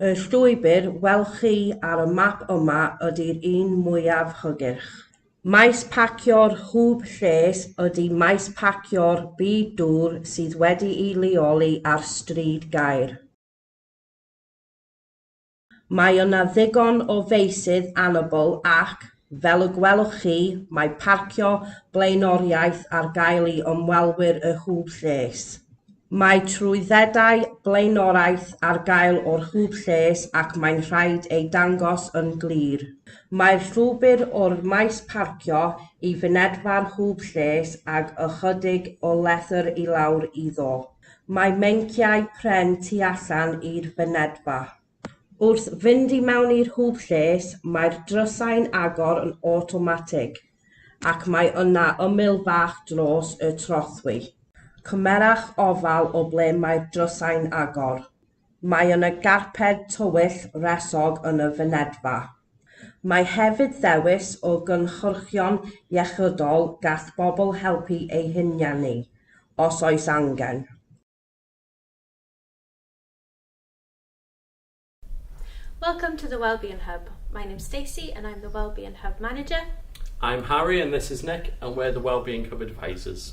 Y llwybr welwch chi ar y map yma ydy'r un mwyaf hygyrch. Maes parcio'r Hwb Lles ydy maes parcio'r Byd Dŵr sydd wedi'i leoli ar Stryd Gaer. Mae yna ddigon o feysydd anabl ac, fel y gwelwch chi, mae parcio blaenoriaeth ar gael i ymwelwyr y Hwb Lles. Mae trwyddedau blaenoriaeth ar gael o'r Hwb Lles ac mae'n rhaid eu dangos yn glir. Mae'r llwybr o'r maes parcio i fynedfa'r Hwb Lles ag ychydig o lethr i lawr iddo. Mae meinciau pren tu allan i'r fynedfa. Wrth fynd i mewn i'r hwb lles, mae'r drysau'n agor yn awtomatig, ac mae yna ymyl fach dros y trothwy. Cymerwch ofal o ble mae'r drysau'n agor. Mae yna garped tywyll wresog yn y fynedfa. Mae hefyd ddewis o gynhyrchion iechydol gall bobl helpu eu hunianu, os oes angen. Welcome to the Wellbeing Hub, my name's Stacey and I'm the Wellbeing Hub Manager. I'm Harry and this is Nick and we're the Wellbeing Hub Advisors.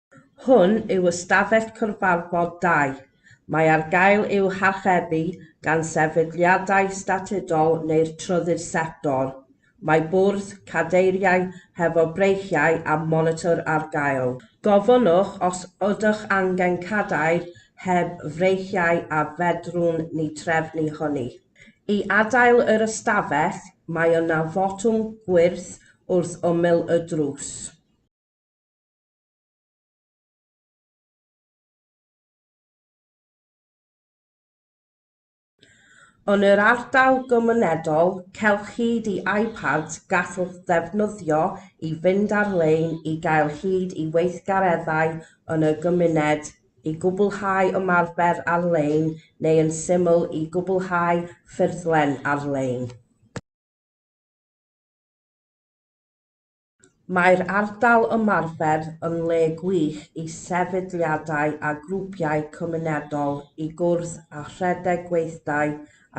Hwn yw ystafell cyfarfod dai. Mae ar gael i'w harchebu gan sefydliadau statudol neu'r trydydd sector. Mae bwrdd, cadeiriau hefo breichiau a monitor ar gael. Gofynnwch os ydych angen cadair heb freichiau a fedrwn ni drefnu hynny. I adael yr ystafell, mae yna fotwm gwyrdd wrth ymyl y drws. Yn yr ardal gymunedol, cewch hyd i iPads gallwch ddefnyddio i fynd ar-lein i gael hyd i weithgareddau yn y gymuned, i gwblhau ymarfer ar-lein neu yn syml i gwblhau ffurflen ar-lein. Mae'r ardal ymarfer yn le gwych i sefydliadau a grwpiau cymunedol i gwrdd a rhedeg gweithdai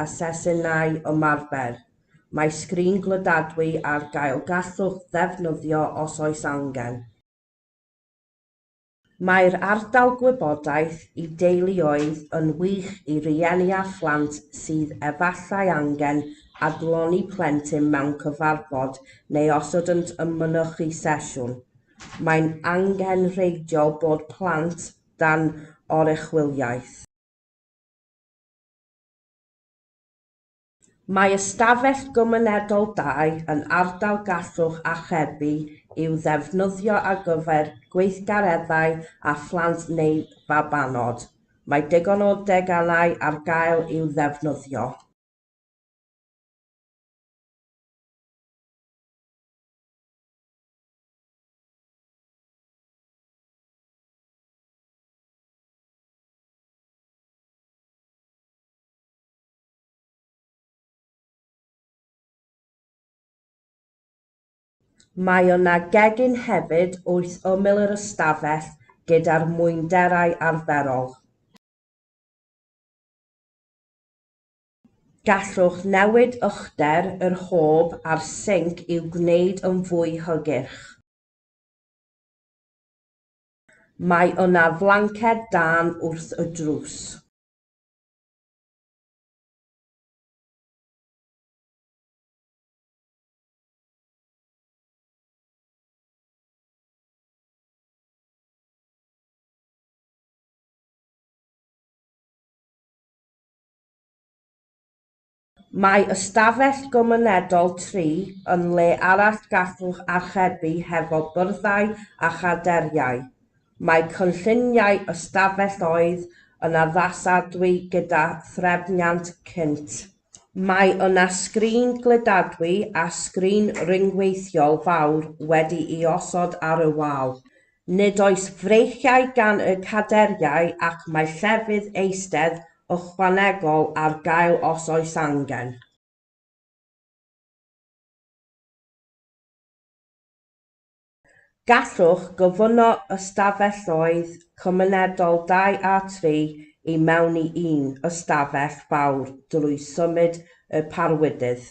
a sesiynau ymarfer. Mae sgrin glydadwy ar gael gallwch ddefnyddio os oes angen. Mae'r ardal gwybodaeth i deuluoedd yn wych i rieni â phlant sydd efallai angen adloni plentyn mewn cyfarfod neu os ydynt yn mynychu sesiwn. Mae'n angenrheidiol bod plant dan oruchwyliaeth. Mae ystafell gymunedol dau yn ardal gallwch archebu i'w ddefnyddio ar gyfer gweithgareddau â phlant neu fabanod. Mae digon o deganau ar gael i'w ddefnyddio. Mae yna gegin hefyd wrth ymyl yr ystafell gyda'r mwynderau arferol. Gallwch newid uchder yr hob a'r sinc i'w gwneud yn fwy hygyrch. Mae yna flanced dân wrth y drws. Mae ystafell gymunedol tri yn le arall gallwch archebu hefo byrddau a chaderiau. Mae cynlluniau ystafell oedd yn addasadwy gyda threfniant cynt. Mae yna sgrin gludadwy a sgrin ryngweithiol fawr wedi'i osod ar y wal. Nid oes freichiau gan y caderiau ac mae llefydd eistedd ychwanegol ar gael os oes angen. Gallwch gyfuno ystafelloedd cymunedol dau a tri i mewn i un ystafell fawr drwy symud y parwydydd.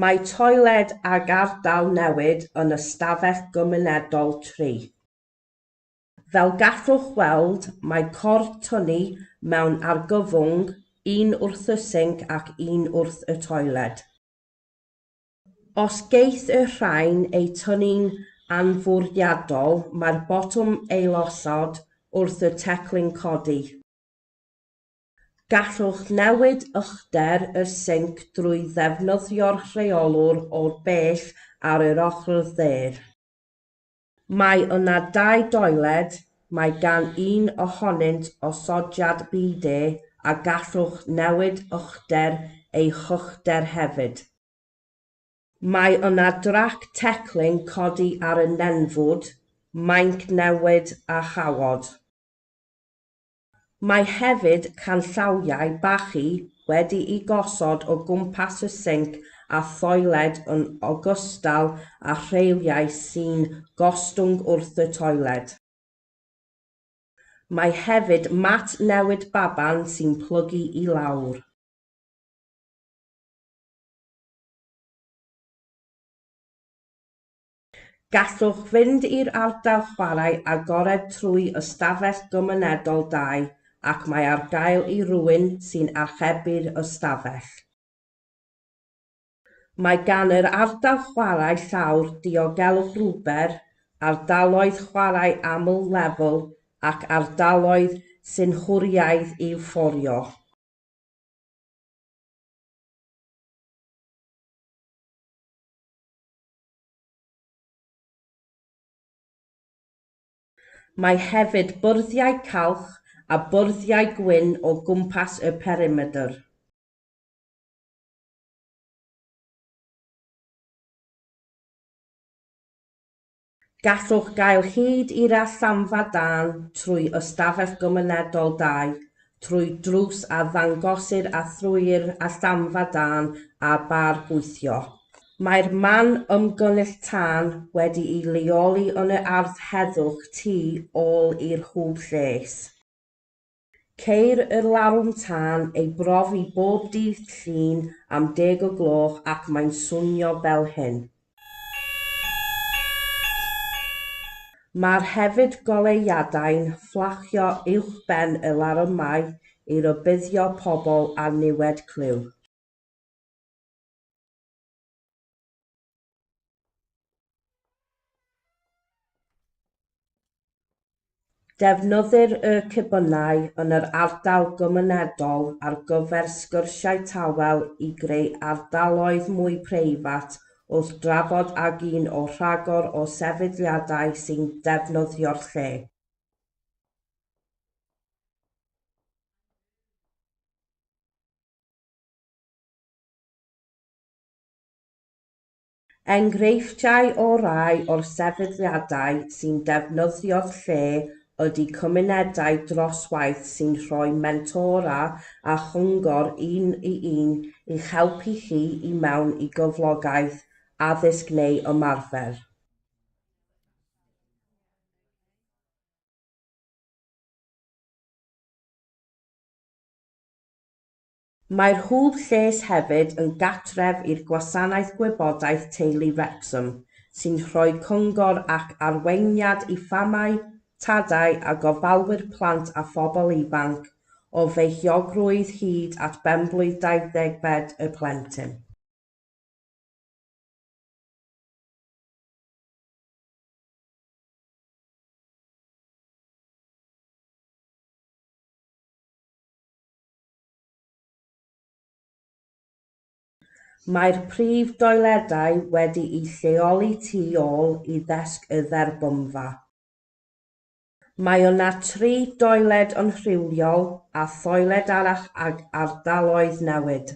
Mae toiled ag ardal newid yn y stafell gymunedol tri. Fel gallwch weld, mae cor Tony mewn argyfwng, un wrth y sinc ac un wrth y toiled. Os geith y rhain eu tynnu'n anfwriadol, mae'r botwm ailosod wrth y teclyn codi. Gallwch newid uchder y sinc drwy ddefnyddio'r rheolwr o'r bell ar yr ochr dde. Mae yna dau doiled, mae gan un ohonynt osodiad bidê a gallwch newid uchder ei hychder hefyd. Mae yna drac teclyn codi ar y nenfwd, mainc newid a chawod. Mae hefyd canllawiau bachu wedi'u gosod o gwmpas y sinc a thoiled yn ogystal â rheiliau sy'n gostwng wrth y toiled. Mae hefyd mat newid baban sy'n plygu i lawr. Gallwch fynd i'r ardal chwarae agored trwy ystafell gymunedol dai ac mae ar gael i rywun sy'n archebu'r ystafell. Mae gan yr ardal chwarae llawr diogelwch rwber, ardaloedd chwarae aml-lefel ac ardaloedd synhwyraidd i'w fforio. Mae hefyd bwrddiau calch a bwrddiau gwyn o gwmpas y perimedr. Gallwch gael hyd i'r allanfa dân trwy Ystafell Gymunedol 2, trwy drws a ddangosir a thrwy'r allanfa dân a bar gweithio. Mae'r man ymgynnull tân wedi'i leoli yn y ardd heddwch tu ôl i'r hwb lles. Ceir y larwm tân ei brofi bob dydd Llun am deg o gloch ac mae'n swnio fel hyn. Mae'r hefyd goleuadau'n fflachio uwchben y larymau i rybuddio pobl â niwed clyw. Defnyddir y cebynau yn yr ardal gymunedol ar gyfer sgyrsiau tawel i greu ardaloedd mwy preifat wrth drafod ag un o rhagor o sefydliadau sy'n defnyddio'r lle. Enghreifftiau o rai o'r sefydliadau sy'n defnyddio'r lle ydy cymunedau dros waith sy'n rhoi mentora a chyngor un i un i'ch helpu chi i mewn i gyflogaeth, addysg neu ymarfer. Mae'r Hwb Lles hefyd yn gartref i'r Gwasanaeth Gwybodaeth Teulu Wrecsam, sy'n rhoi cyngor ac arweiniad i famau, tadau a gofalwyr plant a phobl ifanc, o feichiogrwydd hyd at benblwydd dau-ddeg-bed y plentyn. Mae'r prif doiledau wedi'u lleoli tu ôl i ddesg y dderbynfa. Mae yna tri doiled yn rhywiol a thoiled arall ag ardaloedd newid.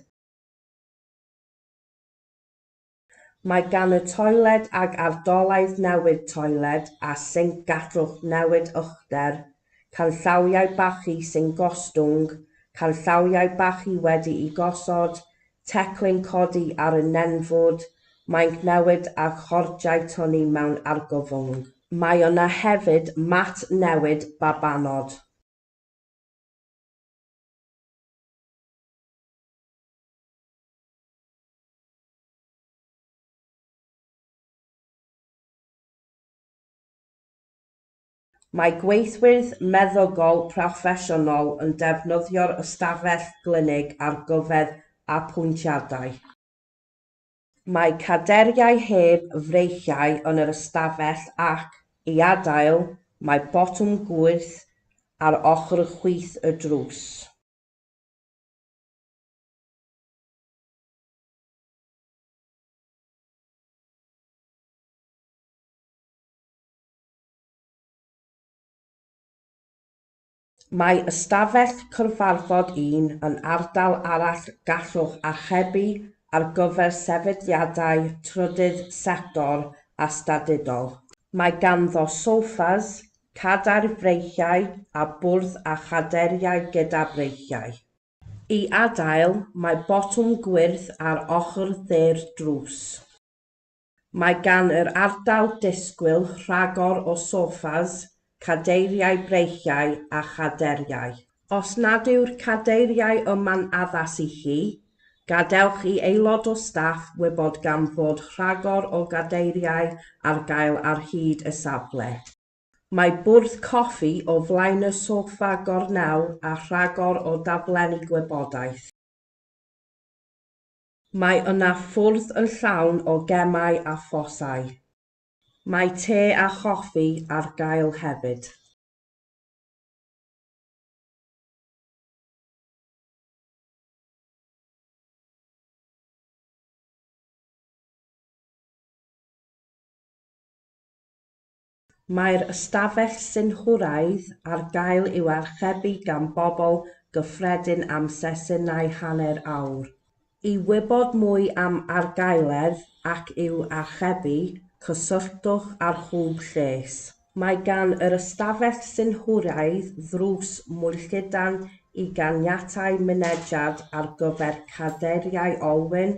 Mae gan y toiled ag ardolaeth newid toiled a sinc gallwch newid uchder, canllawiau bachu sy'n gostwng, canllawiau bachu wedi'u gosod, teclyn codi ar y nenfwd, mainc newid a chordiau tynnu mewn argyfwng. Mae yna hefyd mat newid babanod. Mae gweithwyr meddygol proffesiynol yn defnyddio'r ystafell glinig ar gyfer apwyntiadau. Mae cadeiriau heb freichiau yn yr ystafell ac, i adael, mae botwm gwyrdd ar ochr chwith y drws. Mae ystafell cyfarfod un yn ardal arall gallwch archebu ar gyfer sefydliadau trydydd sector a statudol. Mae ganddo soffas, cadair freichiau a bwrdd a chadeiriau gyda breichiau. I adael, mae botwm gwyrdd ar ochr dde'r drws. Mae gan yr ardal disgwyl rhagor o soffas, cadeiriau breichiau a chaderiau. Os nad yw'r cadeiriau yma'n addas i chi, gadewch i aelod o staff wybod gan fod rhagor o gadeiriau ar gael ar hyd y safle. Mae bwrdd coffi o flaen y soffa gornel a rhagor o daflenni gwybodaeth. Mae yna fwrdd yn llawn o gemau a phosau. Mae te a choffi ar gael hefyd. Mae'r ystafell synhwyraidd ar gael i'w archebu gan bobl gyffredin am sesiynau hanner awr. I wybod mwy am argaeledd ac i'w archebu, cysylltwch â'r Hwb Lles. Mae gan yr ystafell synhwyraidd ddrws mwylltudan i ganiatáu mynediad ar gyfer cadeiriau olwyn,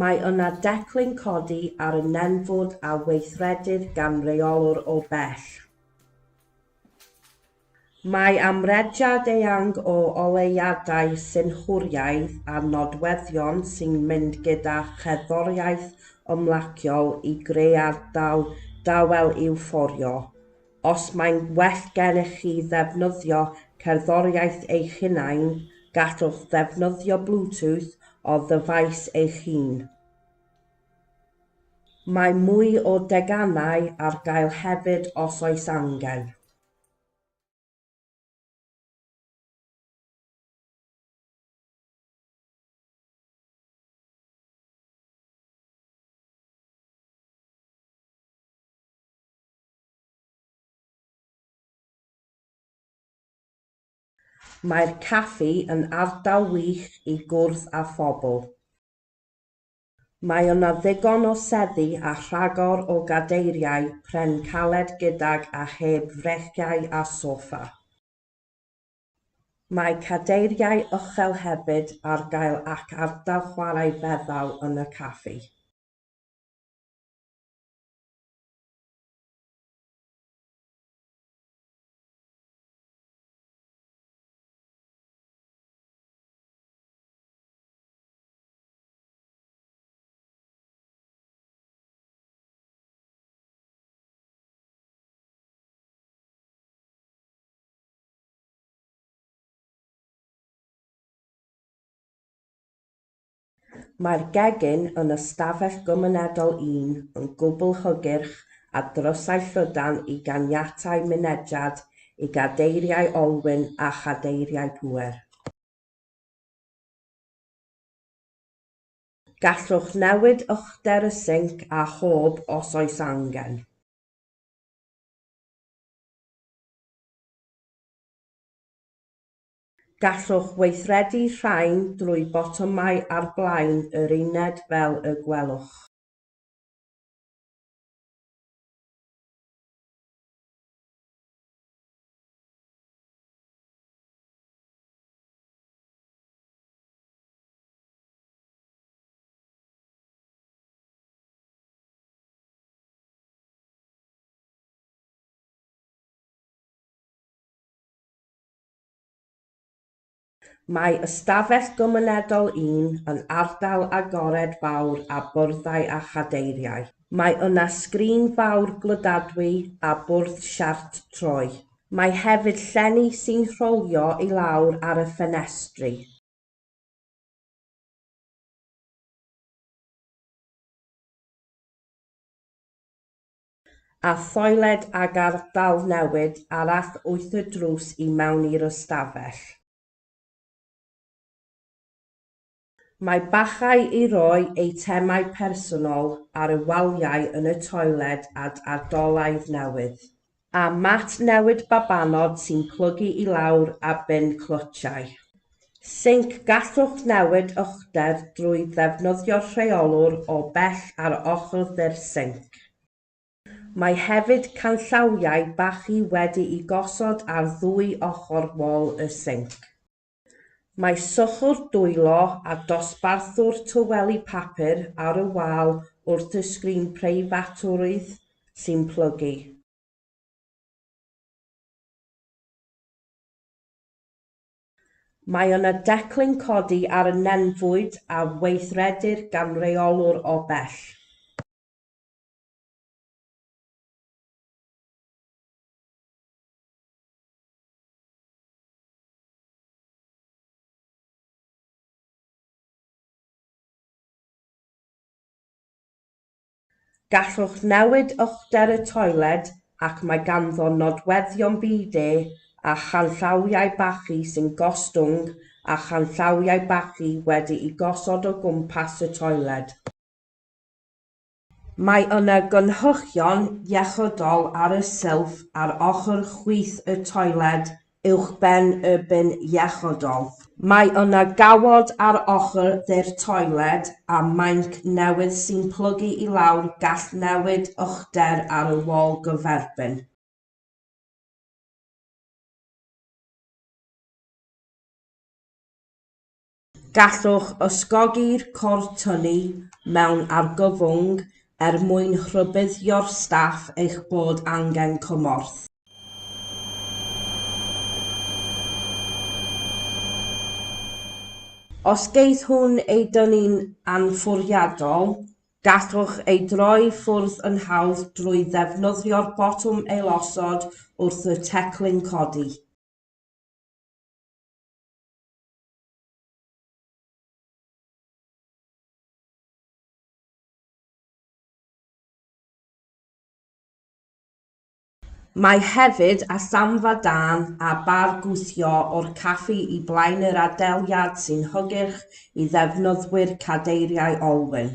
Mae yna declyn codi ar y nenfwd a weithredir gan reolwr o bell. Mae amrediad eang o oleuadau synhwyraidd a nodweddion sy'n mynd gyda cherddoriaeth ymlaciol i greu ardal dawel i'w fforio. Os mae'n well gennych chi ddefnyddio cerddoriaeth eich hunain, gallwch ddefnyddio Bluetooth o ddyfais eich hun. Mae mwy o deganau ar gael hefyd os oes angen. Mae'r caffi yn ardal wych i gwrdd â phobl. Mae yna ddigon o seddi a rhagor o gadeiriau pren caled gydag a heb frechiau a soffa. Mae cadeiriau uchel hefyd ar gael ac ardal chwarae feddal yn y caffi. Mae'r gegin yn ystafell gymunedol un yn gwbl hygyrch a drysau llydan i ganiatáu mynediad i gadeiriau olwyn a chadeiriau pŵer. Gallwch newid uchder y sinc a hob os oes angen. Gallwch weithredu rhain drwy botymau ar flaen yr uned fel y gwelwch. Mae ystafell gymunedol un yn ardal agored fawr â byrddau a chadeiriau. Mae yna sgrin fawr glydadwy a bwrdd siart troi. Mae hefyd llenni sy'n rholio i lawr ar y ffenestri. A thoiled ag ardal newid arall wyth y drws i mewn i'r ystafell. Mae bachau i roi eitemau personol ar y waliau yn y toiled ad ardolaeth newydd. A mat newid babanod sy'n plygu i lawr a bin clwtiau. Sinc Gallwch newid uchder drwy ddefnyddio'r rheolwr o bell ar ochr ddu'r sinc. Mae hefyd canllawiau bachu wedi'u gosod ar ddwy ochr wal y sinc. Mae sychwr dwylo a dosbarthwr tyweli papur ar y wal wrth y sgrin preifatrwydd sy'n plygu. Mae yna declyn codi ar y nenfwyd a weithredir gan reolwr o bell. Gallwch newid uchder y toiled ac mae ganddo nodweddion bidé a chanllawiau bachu sy'n gostwng a chanllawiau bachu wedi'u gosod o gwmpas y toiled. Mae yna gynhyrchion iechydol ar y silff ar ochr chwith y toiled uwchben y bin iechydol. Mae yna gawod ar ochr dde'r toiled a mainc newydd sy'n plygu i lawr gall newid uchder ar y wal gyferbyn. Gallwch ysgogi'r cor tynnu mewn argyfwng er mwyn rhybuddio'r staff eich bod angen cymorth. Os geith hwn ei dynnu'n anfwriadol, gallwch ei droi ffwrdd yn hawdd drwy ddefnyddio'r botwm ailosod wrth y teclyn codi. Mae hefyd a samfa dân a bar gwthio o'r caffi i blaen yr adeilyad sy'n hygyrch i ddefnyddwyr cadeiriau olwyn.